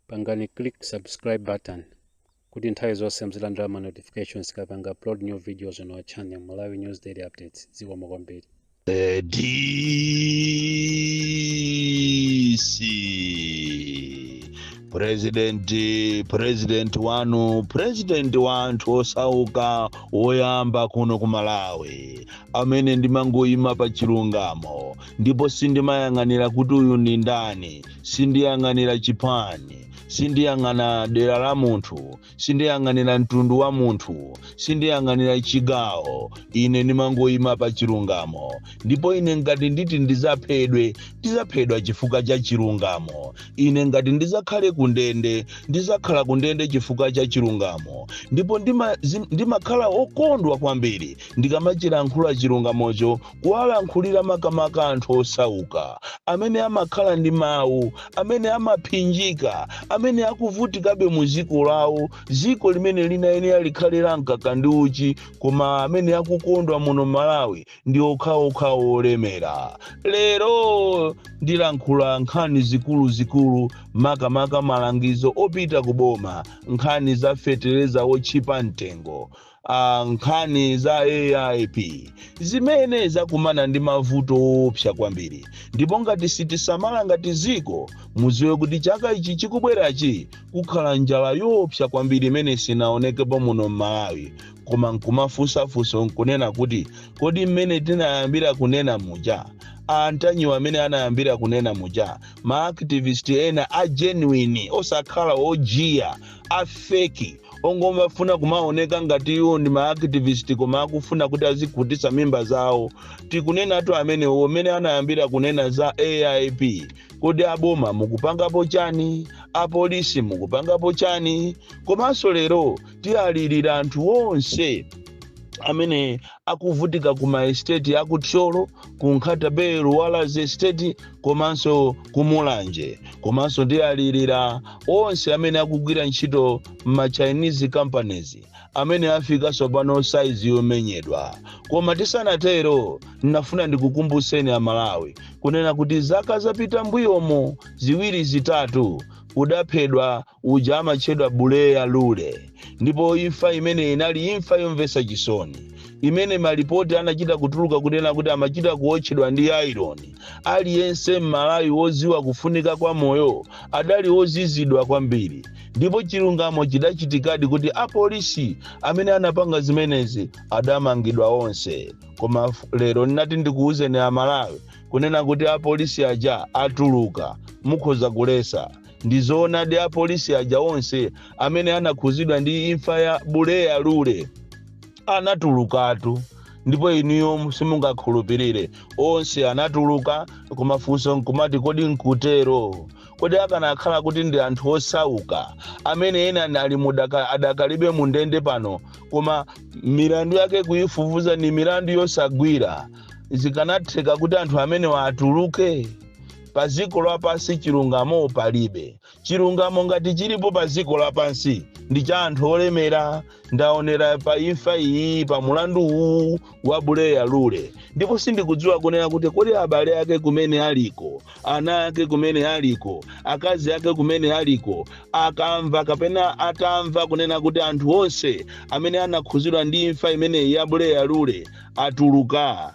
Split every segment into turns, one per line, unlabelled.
pangani click subscribe button kuti nthawi zonse muzilandira ma notifications tikapanga upload new videos on our channel malawi news daily updates zikomo kwambiri The DC
President President wanu President wa anthu osauka woyamba kuno ku Malawi amene ndimangoyima pa chilungamo ndipo sindimayang'anira kuti uyu ndi ndani sindiyang'anira chipani sindiyang'ana dera la munthu sindiyang'anira mtundu wa munthu sindiyang'anira chigawo ine ndimangoyima pa chilungamo ndipo ine ngati nditi ndizaphedwe ndizaphedwa chifukwa cha chilungamo ine ngati ndizakhale kundende ndizakhala kundende chifukwa cha chilungamo ndipo ndima- zim- ndimakhala okondwa kwambiri ndikamachilankhula chilungamocho kuwalankhulira makamaka anthu osauka, amene amakhala ndi mawu, amene amaphinjika, amene akuvutikabe mu dziko lawo, dziko limene linayenera likhale la mkaka ndi uchi, koma amene akukondwa muno Malawi ndi okhaokha olemera. Lero ndilankhula nkhani zikuluzikulu, makamaka malangizo opita ku boma, nkhani za fetereza wotchipa mtengo. a nkhani za aip zimene zakumana ndi mavuto oopsa kwambiri ndipo ngati sitisamala ngati dziko mudziwe kuti chaka ichi chikubwerachi kukhala njala yoopsa kwambiri imene sinaonekepo muno m'malawi koma nkumafunsa funso nkunena kuti kodi mmene tinayambira kunena muja antanyiwa amene anayambira kunena muja maaktivist ena a genuine osakhala ojiya a fake ongomafuna kumaoneka ngati iwo ndi maactivist koma akufuna kuti azikhutisa mimba zawo tikunenatu amenewo mmene anayambira kunena za aip kodi aboma mukupangapo chani apolisi mukupangapo chani komanso lero tiyalirira anthu onse amene akuvutika ku maesteti aku thyolo ku nkhata bay luwalazi estate komanso ku mulanje komanso ndialirira onse amene akugwira ntchito m'ma chinese companies amene afika tsopano saizi yomenyedwa koma tisanatero ndinafuna ndikukumbutseni amalawi kunena kuti zaka zapita mbuyomo ziwiri zitatu kudaphedwa uja amatchedwa Buleya Lule ndipo imfa imene inali imfa yomvetsa chisoni imene malipoti anachita kutuluka kunena kuti amachita kuotchedwa ndi aironi aliyense m'malawi wodziwa kufunika kwa moyo adali ozizidwa kwambiri ndipo chilungamo chidachitikadi kuti apolisi amene anapanga zimenezi adamangidwa onse koma f- lero ndinati ndikuwuzeni amalawi kunena kuti apolisi aja atuluka mukhoza kulesa ndi zoonadi apolisi aja onse amene anakhuzidwa ndi imfa ya buleya lule anatulukatu ndipo inuyo simungakhulupirire onse anatuluka koma funso nkumati kodi nkutero kodi akanakhala kuti ndi anthu osauka amene ena nali mudaka- adakalibe mu ndende pano koma milandu yake kuyifufuza ni milandu yosagwira zikanatheka kuti anthu amenewa atuluke pa dziko lapansi chilungamo palibe chilungamo ngati chilipo pa dziko lapansi ndi cha anthu olemera ndaonera pa imfa iyi pa mulandu uwu wa buleya lule ndipo sindikudziwa kunena kuti kodi abale ake kumene aliko ana ake kumene aliko akazi ake kumene aliko akamva kapena atamva kunena kuti anthu onse amene anakhuzidwa ndi imfa imeneyi ya buleya lule atuluka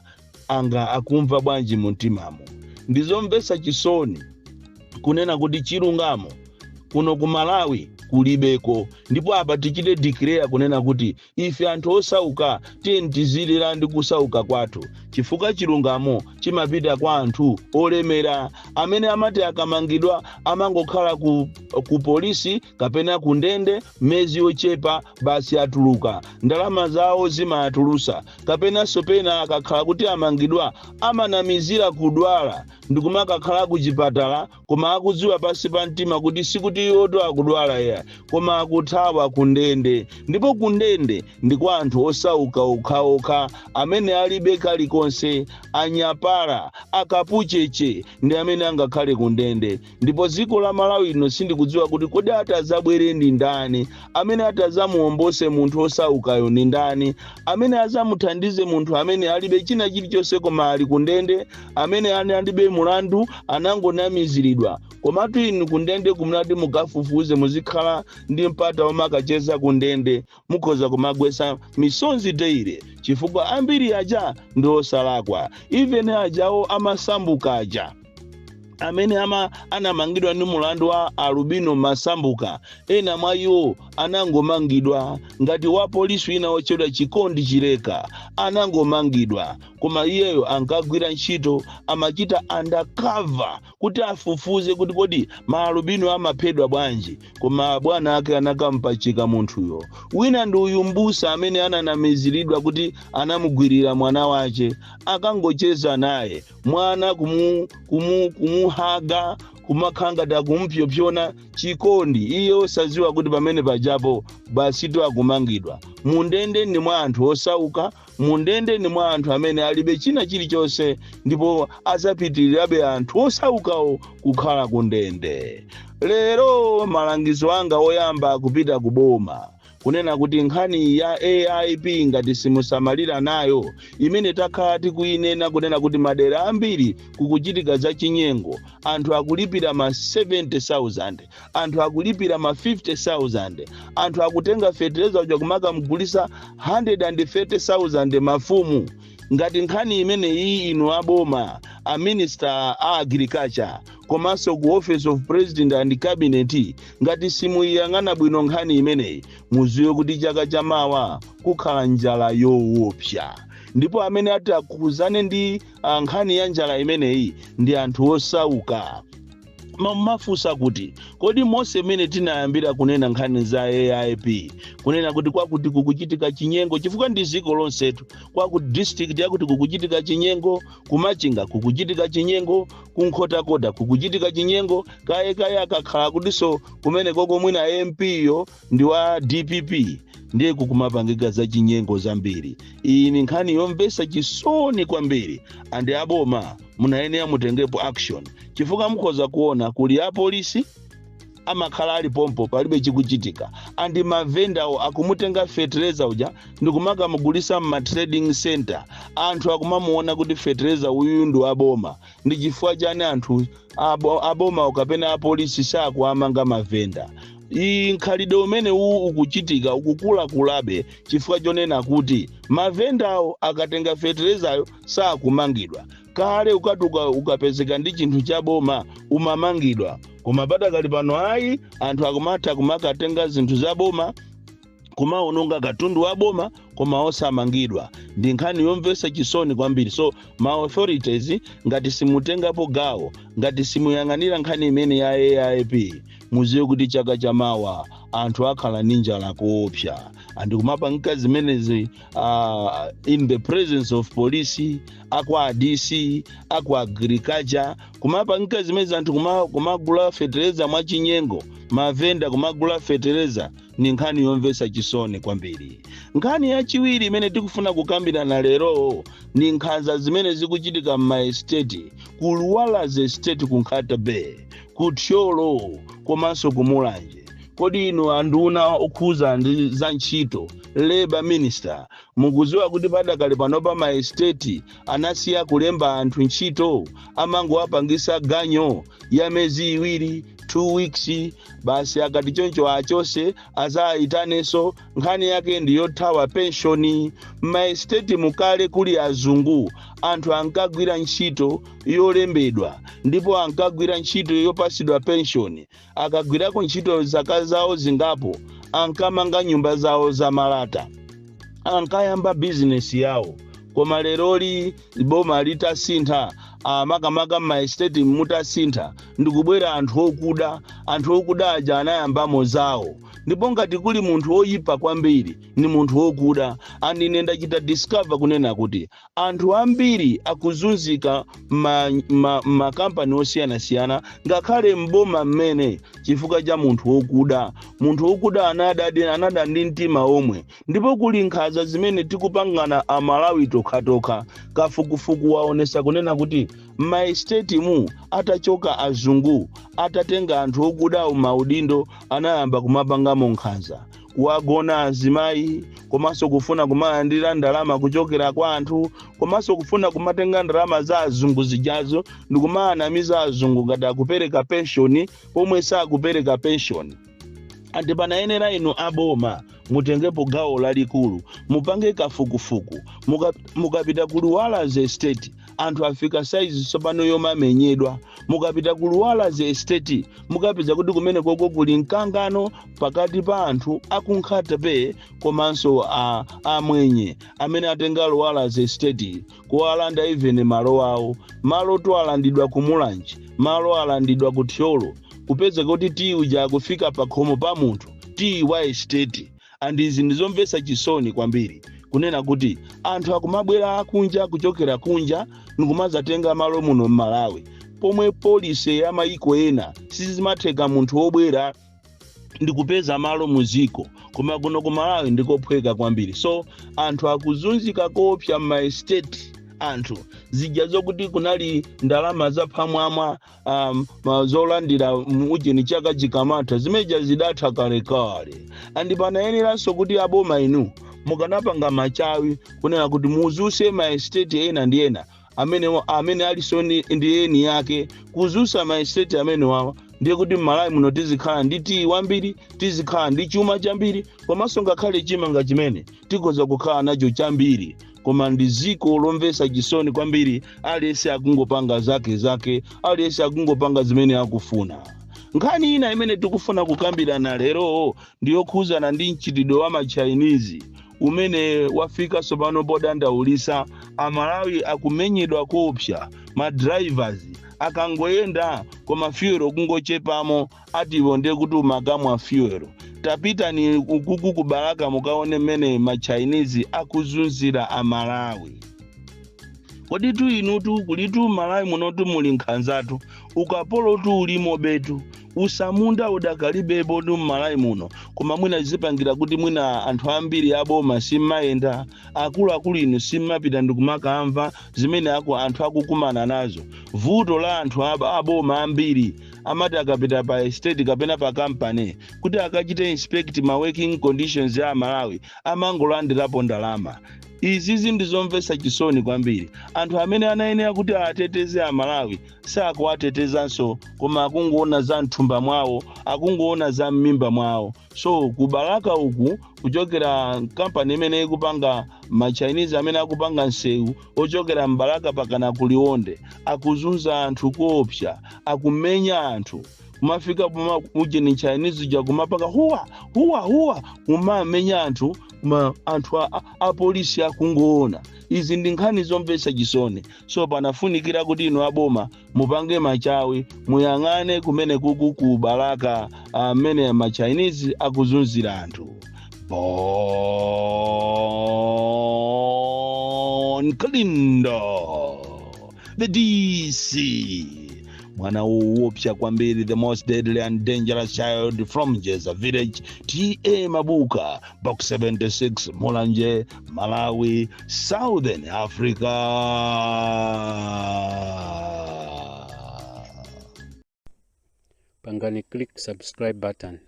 nanga akumva bwanji mumtimamo ndizomvetsa chisoni kunena kuti chilungamo kuno ku malawi kulibeko ndipo apa tichite declare kunena kuti ife anthu osauka tiyeni tizilira ndi kusauka kwathu chifukwa chilungamo chimapita kwa anthu olemera amene amati akamangidwa amangokhala ku, ku polisi kapena ku ndende mezi yochepa basi atuluka ndalama zawo zimawatulusa kapenanso pena akakhala kuti amangidwa amanamizira kudwala ndikumakakhala kuchipatala koma akudziwa pansi pa mtima kuti sikuti iwoto akudwala ya koma akuthawa kundende ndipo kundende ndi kwa anthu osauka okhaokha amene alibe kalikonse anyapala akapucheche ndi amene angakhale kundende ndipo dziko la malawi lino sindikudziwa kuti kodi atazabwere ndi ndani amene atazamuombose munthu osaukayo ndi ndani amene azamuthandize munthu amene alibe china chilichonse koma ali kundende amene ena alibe mulandu anangonamiziridwa komatu inu kundendeku mutati mukafufuze muzikhala ndi mpata omakacheza kundende mukhoza kumagwetsa misonzi daily chifukwa ambiri aja ndi osalakwa even ajawo amasambuka aja amene ama anamangidwa ndi mulandu wa alubino masambuka ena mwa iwo anangomangidwa ngati wa polisi wina wotchedwa chikondi chileka anangomangidwa koma iyeyo ankagwira ntchito amachita undercover kuti afufuze kuti kodi maalubino amaphedwa bwanji koma abwana ake anakampachika munthuyo wina ndi uyu mbusa amene ananamiziridwa kuti anamugwirira mwana wace akangocheza naye mwana kumuhaga kumakhala ngati akumpsopsona chikondi iye osadziwa kuti pamene pajapo basitu akumangidwa mundende ndi mwa anthu osauka Mu ndende ndi mwa anthu amene alibe china chilichonse ndipo azapitilirabe anthu osaukawo kukhala ku ndende. Lero malangizo anga oyamba kupita ku boma kunena kuti nkhani ya AIP ngati simusamalira nayo imene takhala tikuyinena kunena kuti madera ambiri kukuchitika za chinyengo anthu akulipira ma 70,000 anthu akulipira ma 50,000, anthu akutenga fetereza uja kumakamugulisa 130,000 mafumu. Ngati nkhani imeneyi inu aboma, a minister a agriculture, komanso ku office of president and cabinet, ngati simuyiyang'ana bwino nkhani imeneyi, muziwe kuti chaka chamawa kukhala njala yowopsa. ndipo amene atakhudzane ndi nkhani ya njala imeneyi ndi anthu osauka Mumafunsa kuti kodi monse mmene tinayambira kunena nkhani za aip kunena kuti kwakuti kukuchitika chinyengo chifukwa ndi dziko lonsetu kwakuti district yakuti kukuchitika chinyengo kumachinga kukuchitika chinyengo kunkhotakota kukuchitika chinyengo kaye kaye akakhala kutinso kumene koko mwina mp yo ndi wa dpp ndiye kukumapangika za chinyengo zambiri iyi ni nkhani yomvesa chisoni kwambiri andi aboma munayenera mutengepo action chifukwa mukhoza kuona kuti apolisi amakhala ali pompo palibe chikuchitika andi mavendawo akumutenga fetereza uja ndikumakamugulisa mma trading center anthu akumamuona kuti fetereza uyu ndi waboma ndi chifukwa chani anthu abomawo kapena apolisi sakuwamanga mavenda mkhalidwe umene uwu ukuchitika ukukulakulabe chifukwa chonena kuti mavendawo akatenga feterezayo sakumangidwa kale ukatuka ukapezeka ndi chinthu cha boma umamangidwa koma padakali pano ayi anthu akumatha kumakatenga zinthu za boma kumaononga katundu wa boma koma osamangidwa ndi nkhani yomvetsa chisoni kwambiri so ma authorities ngati simutengapo gawo ngati simuyang'anira nkhani imene ya aip muziwe kuti chaka chamawa anthu akhala ndi njala koopsa andi kumapangika zimenezi uh, in the presence of police akwa dc akwa agriculture kumapangika zimenezi anthu kumagula fetereza mwachinyengo mavenda kumagula fetereza ni nkhani yomvetsa chisoni kwambiri nkhani yachiwiri imene tikufuna kukambirana lero ni nkhaza zimene zikuchitika m'maesiteti ku luwalazi esiteti ku nkhata bay ku thyolo komanso ku mulanje kodi inu anduna okhuza ndi za ntchito labor minister mukuziwa kuti padakali panopa maesiteti anasiya kulemba anthu ntchito amangowapangisa ganyo ya myezi iwiri 2 weeks basi akati choncho achose azayitanenso nkhani yake ndi yothawa penshoni m'maesiteti mukale kuli azungu anthu ankagwira ntchito yolembedwa ndipo ankagwira ntchito yopasidwa penshoni akagwirako ntchito zaka zawo zingapo ankamanga nyumba zawo za malata ankayamba bizinesi yawo koma leroli boma litasintha ah, makamaka m'maestate mutasintha ndikubwera anthu okuda anthu okuda aja anayambamo zawo ndipo ngati kuli munthu woyipa kwambiri ni munthu wokuda and ine ndachita discover kunena kuti anthu ambiri akuzunzika m'makampani ma, ma makampani osiyanasiyana ngakhale m'boma mmene chifukwa cha munthu wokuda munthu wokuda anada anada ndi mtima omwe ndipo kuli nkhaza zimene tikupangana amalawi tokhatokha kafukufuku waonesa kunena kuti m'maesitetimu atachoka azungu atatenga anthu okudawo maudindo anayamba kumapangamo nkhaza kuwagona azimayi komanso kufuna kumalandira ndalama kuchokera kwa anthu komanso kufuna kumatenga ndalama za azungu zijazo ndikumawanamiza azungu ngati akupereka penshoni pomwe sakupereka penshoni and panayenera inu aboma mutengepo gawo lalikulu mupange kafukufuku Muka- mukapita ku luwalazi estate anthu afika saizi tsopano yomamenyedwa mukapita ku luwalazi estate mukapeza kuti kumene koko kuli mkangano pakati pa anthu a ku nkhata bay komanso a- amwenye amene atenga luwalazi estate kuwalanda even malo awo malo to alandidwa ku mulanje malo alandidwa ku thyolo kupezeka kuti tiyi uja akufika pa khomo pa munthu tiyi wa estate and izi ndizomvetsa chisoni kwambiri kunena kuti anthu akumabwera akunja kuchokera kunja ndikumazatenga malo muno m'malawi pomwe polisi ya mayiko ena sizimatheka munthu wobwera ndikupeza malo mu dziko koma kuno ku malawi ndikophweka kwambiri so anthu akuzunzika koopsa m'maestate anthu zija zokuti kunali ndalama zaphamwamwa um, ma- zolandira mu ujeni chaka chikamatha zimene zija zidatha kalekale andi panayeneranso kuti aboma inu mukanapanga machawi kunena kuti muzifunse maestate ena ndi ena amenewa amene alinso ndi ndi eni ake kudzutsa maestate amenewawa ndiye kuti m'Malawi muno tizikhala ndi tiyi wambiri tizikhala ndi chuma chambiri komanso ngakhale chimanga chimene tikhoza kukhala nacho chambiri koma ndi dziko lomvetsa chisoni kwambiri aliyense akungopanga zake zake aliyense akungopanga zimene akufuna nkhani ina imene tikufuna kukambirana lero ndi yokhudzana ndi mchitidwe wa ma Chinese umene wafika tsopano podandaulitsa. Amalawi akumenyedwa koopsa, ma drivers akangoyenda kuona fuel kungochepamo ati iwo ndiye kuti umakamwa fuel. Tapitani ukuku ku Balaka mukaone mmene ma Chinese akuzunzira Amalawi. Kodi tu inutu kulitu Malawi munotu muli nkhanzatu, ukapolotu ulimobetu. utsamunda udakalipobe mmalawi muno koma mwina zikupangira kuti mwina anthu ambiri aboma simmayenda akuluakulu inu simmapita ndikumakamva zimene aku anthu akukumana nazo vuto la anthu ab- aboma ambiri amati akapita pa estate kapena pa kampani kuti akachite inspect ma working conditions ya amalawi amangolandirapo ndalama izizi ndizomvetsa chisoni kwambiri anthu amene anayenera kuti ateteze amalawi sakuwatetezanso koma akungoona za mthumba mwawo akungoona za mmimba mwawo so ku balaka uku kuchokera kampani imene ikupanga machinese amene akupanga nsewu ochokera mbalaka mpakana ku liwonde akuzunza anthu koopsa akumenya anthu kumafika poma ujeni chinese uja kumapaka huwa huwa huwa kumamenya anthu ma anthu a, a, a polisi akungoona izi ndi nkhani zomvetsa chisoni so panafunikira kuti inu aboma mupange machawi muyang'ane kumene kuku ku balaka mmene machinese akuzunzira anthu bon kalindo the dc mwana woopsa kwambiri the most deadly and dangerous child from jeza village ta mabuka box 76 mulanje malawi southern
africa pangani click subscribe button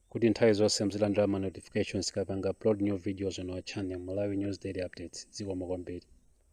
kuti nthawi zonse muzilandira ma notifications tikapanga upload new videos on our channel malawi news daily updates zikomo kwambiri